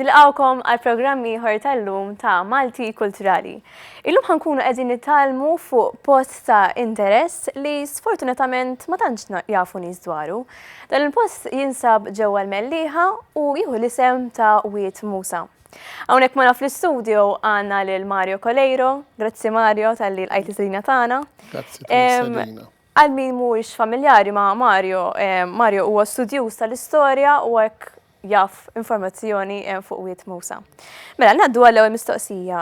Nilqawkom għal programm ieħor tal-lum ta' Malti Kulturali. Illum ħankunu qegħdin nitalmu fuq post ta' interess li sfortunatament ma tantx jafu nies dwaru. Dan il-post jinsab ġewwa l-Melliħa u jieħu l-isem ta' Wiet Musa. Hawnhekk ma' fl-istudio għandna lil Mario Coleiro. Grazzi Mario tal-li l-qajt is-sidina tagħna. Grazzi tal-istedina. Għal min mhuwiex familjari ma' Mario, Mario huwa studjuż tal-istorja u hekk jaf informazzjoni fuq Wied Mowsa. Mela, ngħaddu għall-ewwel mistoqsija,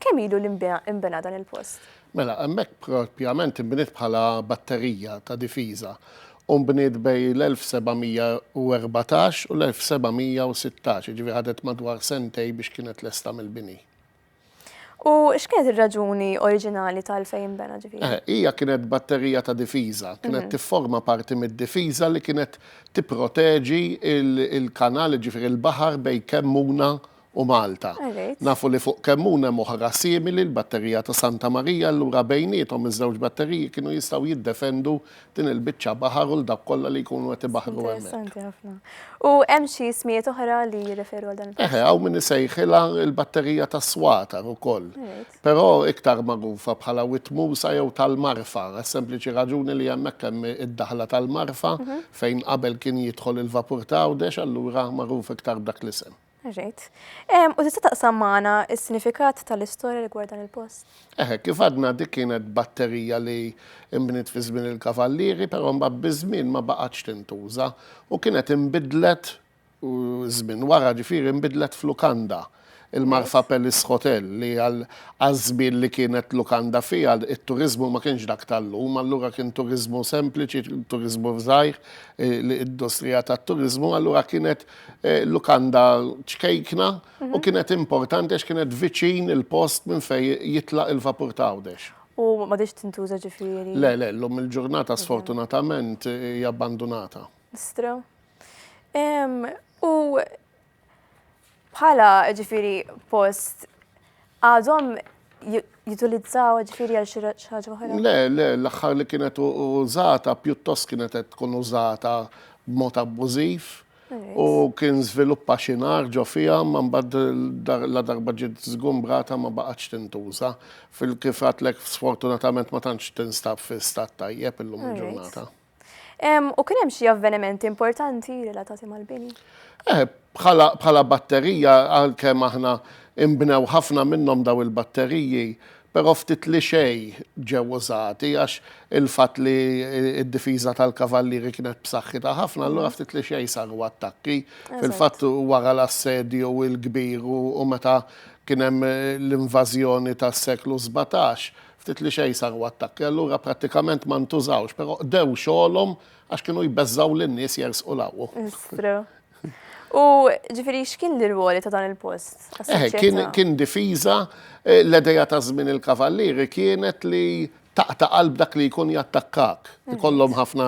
kemm ilu li nbena dan il-post? Mela, hemmhekk propjament inbniet bħala batterija ta' difiża u nbniet bejn l-1714 u l-1716, jiġifieri ħadet madwar sentejn biex kienet lesta mill-bini. U x'kienet ir-raġuni oriġinali ta' għalfejn inbena ġifieri? Eh, hija kienet batterija ta' difiża, kienet mhm. tifforma parti mid-difiża li kienet tipproteġi il-kanal ġifieri l-baħar bejn Kemmuna u Malta. Nafu li fuq Kemmuna hemm oħra simili l-batterija ta' Santa Marija, allura bejniethom iż-żewġ batteriji kienu jistgħu jiddefendu din il-biċċa baħar u l dawk kollha li jkunu qed ibaħħru hemmhekk. Interessanti ħafna. U hemm xi smijiet oħra li jirreferu għal dan il-post? Eħe, hawn min isejħilha l-batterija tas-swatar ukoll. Però iktar magħrufa bħala Witmusa jew tal-Marfa, għas-sempliċi raġuni li hemmhekk hemm id-daħla tal-Marfa mhm. fejn qabel kien jidħol il-vapur ta' Għawdex, allura magħruf iktar b'dak l-isem. Ġejt. U tista' taqsam magħna s-sinifikat tal-istorja rigward dan il-post? Eħe, eh, kif għadna dik kienet batterija li imbniet fi żmien il-Kavallieri, però mbagħad biż-żmien ma baqgħetx tintuża u kienet inbidlet żmien wara ġifieri inbidlet f'lukanda il-Marfa Palace Hotel li għal żmien li kienet lukanda fiha it-turiżmu ma kienx dak tal-lum, allura kien turiżmu sempliċi, turiżmu żgħir, eh, l-industrija tat-turiżmu, allura kienet Eh, lukanda ċkejkna u mhm. kienet importanti għax kienet viċin il-post minn fej jitlaq il-vapur ta' għawdex. U ma diċ tintuża ġifiri? Le, le, l-lum il-ġurnata mhm. sfortunatament hija abbandunata. Stra. U bħala ġifiri post Għadhom jitulizzaw ġifiri għal xi ħaġa oħra? Le, le, l-aħħar li kienet użata pjuttost kienet qed tkun użata b'mod abbużiv u kien żviluppa xi nar ġo fiha ma mbagħad la darba ġiet żgumbrata ma baqgħetx tintuża. Fil-kif għadtlek sfortunatament ma tantx tinstab fi stat tajjeb illum il-ġurnata. U kien hemm xi avvenimenti importanti relatati mal-bini? Eh, bħala batterija għalkemm aħna imbnew ħafna minnhom daw il-batteriji, però ftit li xej ġew użati għax il-fatt li d-difiża tal-kavallieri kienet b'saħħitha ħafna, allura ftit li xej saru attakki. Fil-fatt wara l-assedju il-kbir u meta kien hemm l-invażjoni tas-seklu 17, Ftit li xejn saru attakki allura prattikament ma ntużawx, però qdew xogħolhom għax kienu jbeżżgħu lin-nies jersqu 'l hawn. It's true. U ġifieri x'kien l-irwoli ta' dan il-post? Eħe, kien kien difiża, l-idea ta' żmien il-Kavallieri kienet li taqta' qalb dak li jkun jattakkak. Ikollhom ħafna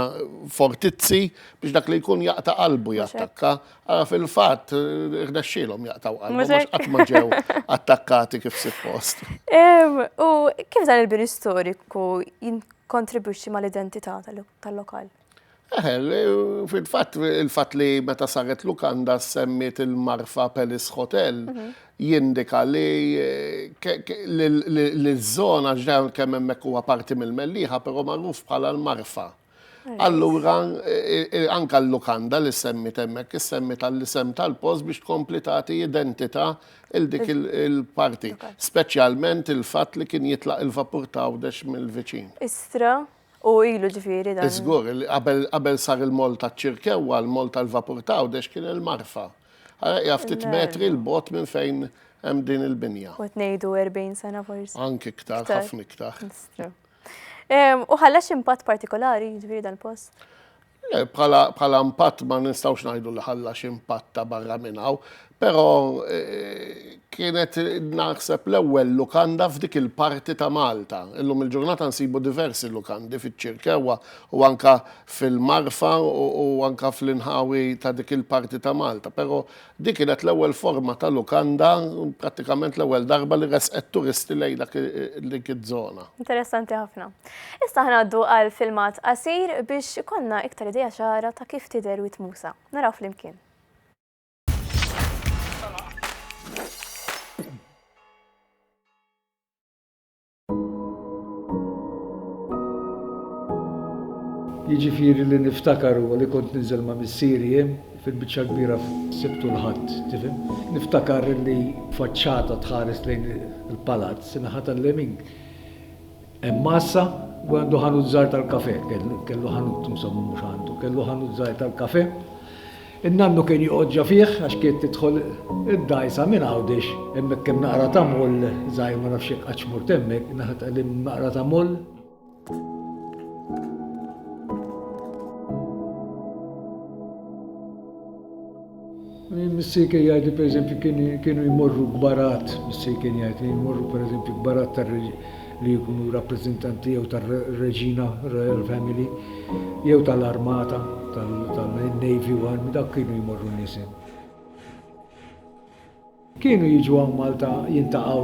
fortizzi biex dak li jkun jaqta' qalbu jattakka. Ah, fil-fatt, irnexxielhom jaqtaw qalbhom Mhux għax hekk? qatt ma ġew attakkati kif suppost. Em, U kif dan il-bini storiku jinkontribwixxi mal-identità tal- tal-lokal? Eh, l- Fil-fatt, il-fatt li meta saret lukanda semmiet il-marfa Palace Hotel jindika li eh, ke- ke- li- li- li ż-żona ġdan kemm hemmhekk huwa parti mill-Mellieħa, però magħruf bħala l-marfa. Allura, anka l-lukanda li semmi temmek, semmi tal-isem tal-post biex tkompli tagħti identità il dik il-parti, speċjalment il-fatt li kien jitlaq il-vapur ta' għawdex mill-viċin. Istra, u ilu ġifieri dan. Iżgur, qabel sar il-mall taċ-Ċirkewwa, l-mall tal-vapur ta' għawdex kien il-Marfa. Ara hija ftit metri l-bogħod minn fejn hemm din il-binja. Kont ngħidu 40 sena forsi. Anki iktar, ħafna iktar. U ħallex impatt partikolari, ġviri dal-post? Le, bħala impatt ma nistawx najdu li ħallax impatt ta' barra minnaw, pero eh, kienet naħseb l-ewwel lukanda f'dik il-parti ta' Malta. Illum il-ġurnata nsibu diversi lukandi fiċ-ċirkewa u anka fil-marfa u anka fl-inħawi ta' dik il-parti ta' Malta, pero Din kienet l-ewwel forma ta' lukanda, prattikament l-ewwel darba li ressqet turisti lejn dak dik iż-żona. Interessanti ħafna. Issa ħnaddu għal filmat qasir biex ikollna iktar idea ċara ta' kif tidher Wied Musa. Naraw flimkien. Jiġifieri li niftakar huwa li kont ninżel ma' missieri jien, fil-biċċa l-kbira f'Sibt u l-Ħadd, tifhem? Niftakar li faċċata tħares lejn il-palazz, in-naħa tal-lemin hemm għassa u għandu ħanut żgħar tal-kafè, kellu ħanut insomma mhux għandu, kellu ħanut żgħir tal-kafè. In-nannu kien joqgħodġa fih għax kienet tidħol id-dgħajsa minn Għawdex, hemmhekk hemm naqra ta' moll żgħir ma nafx jekk qadx mort hemmhekk, naħa ta' hemm naqra ta' moll. Missier kien jgħid li pereżempju kienu jmorru kbarat, missier kien jgħid li jmorru pereżempju kbarat tar li jkunu rappreżentanti jew tar-Reġina Royal Family jew tal-Armata, tal-Navy u Army, dak kienu jmorru n-nisien. Kienu jiġu hawn Malta jintaqgħu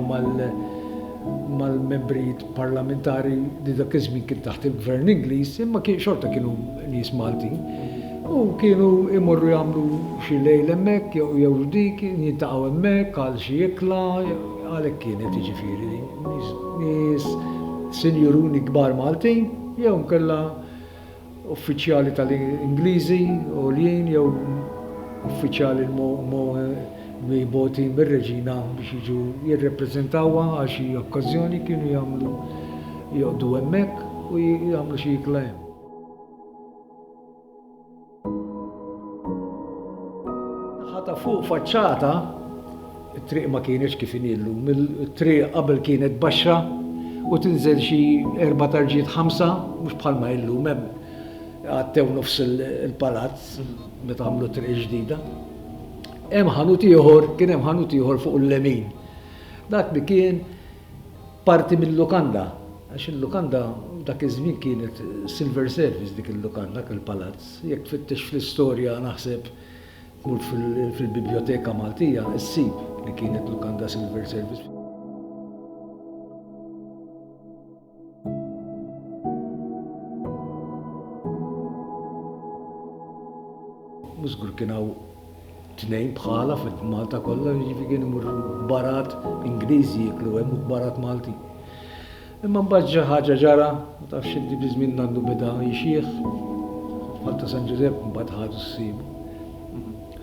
mal-membri parlamentari li dak iż-żmien kien taħt il-Gvern Ingliż, imma kien xorta kienu nies Maltin. U kienu imorru jagħmlu xi lejl hemmhekk jew dik, jintaqgħu hemmhekk għal xi ikla, għalhekk kienet jiġifieri. nies sinjuruni kbar Maltin jew inkella uffiċjali tal-Ingliżi għoljin jew uffiċjali mogħti mir-Reġina biex jiġu jirrappreżentawha għal xi okkażjoni kienu jagħmlu joqgħdu hemmhekk u jagħmlu xi ikla hemm. Naħa ta' fuq faċċata, it-triq ma kienitx kif inhi llum. It-triq qabel kienet baxxa u tinżel xi erba' tarġiet ħamsa, mhux bħalma hi llum hemm għaddew nofs il-palazz meta għamlu t-triq il-ġdida. Hemm ħanut ieħor, kien hemm ħanut ieħor fuq il-lemin. Dak li kien Parti mil-lukanda, għax il-lukanda dak iż-żmien kienet silver service dik il-lukanda, dak il-palazz. Jekk tfittex fl-istorja naħseb tmur fil-Bibljoteka Maltija ssib li kienet lukanda silver service. Mużgur kien hawn tnejn bħala fil-Malta kollha, jiġifieri kien imur barat Ingliżi jiklu hemm u barat Malti. Imma mbagħad ġa ħaġa ġara, ma tafx inti bi żmien għandu bida jixjieħ. Malta San Ġużepp mbagħad ħadu s-sib.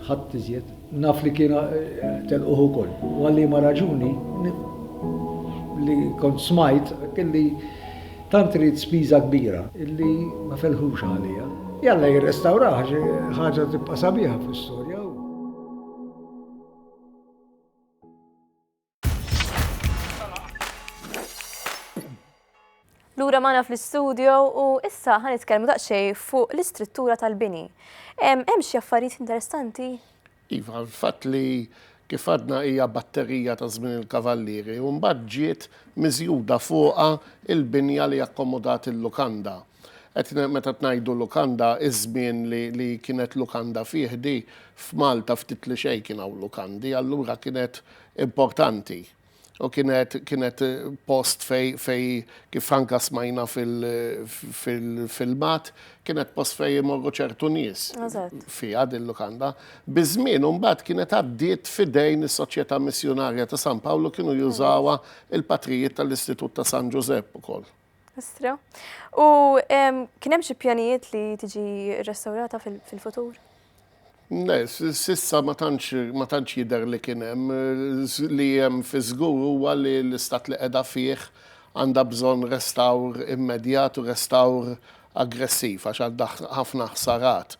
Ħadd iżjed. Naf li kienu telquh ukoll. U għal liema raġuni, li kont smajt, kelli tant ridt spiża kbira illi ma felħux għalija. Jalla jirrestawrah, xi ħaġa tibqa' sabiħa fl-istorja. Lura magħna fl-istudio u issa ħan nitkellmu daqsxej fuq l-istruttura tal-bini. Hemm xi affarijiet interessanti? Iva, l-fatt li kif għadna hija batterija ta' żmien il-Kavallieri u mbagħad ġiet miżjuda fuqha il-binja li akkomodat il-lukanda. Qed meta tnajdu lukanda, iż-żmien li li kienet lukanda fih di, f'Malta ftit li xejn kien hawn lukandi, allura kienet importanti. U kienet kienet post fej fej kif anka smajna fil-filmat, kienet post fej imorru ċertu nies fiha din lukanda. Biż-żmien u mbagħad kienet għaddiet f'idejn is-Soċjetà Missjunarja ta' San Pawlu kienu jużawha l-patrijiet tal-Istitut ta' San Ġużepp ukoll. Astro. U kien hemm xi pjanijiet li tiġi rrestawrata fil-futur? Le, sissa ma tantx jidher li kien hemm. Li hemm fi żgur huwa li l-istat li qiegħda fih għandha bżonn restawr immedjat u restawr aggressiv għax għandha ħafna ħsarat.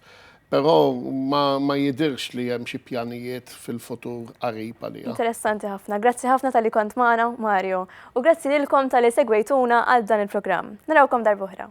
Però ma jidhirx li hemm xi pjanijiet fil-futur qarib għaliha. Interessanti ħafna. Grazzi ħafna talli kont magħna, Mario. U grazzi lilkom talli segwejtuna għal dan il-programm. Narawkom darb'oħra.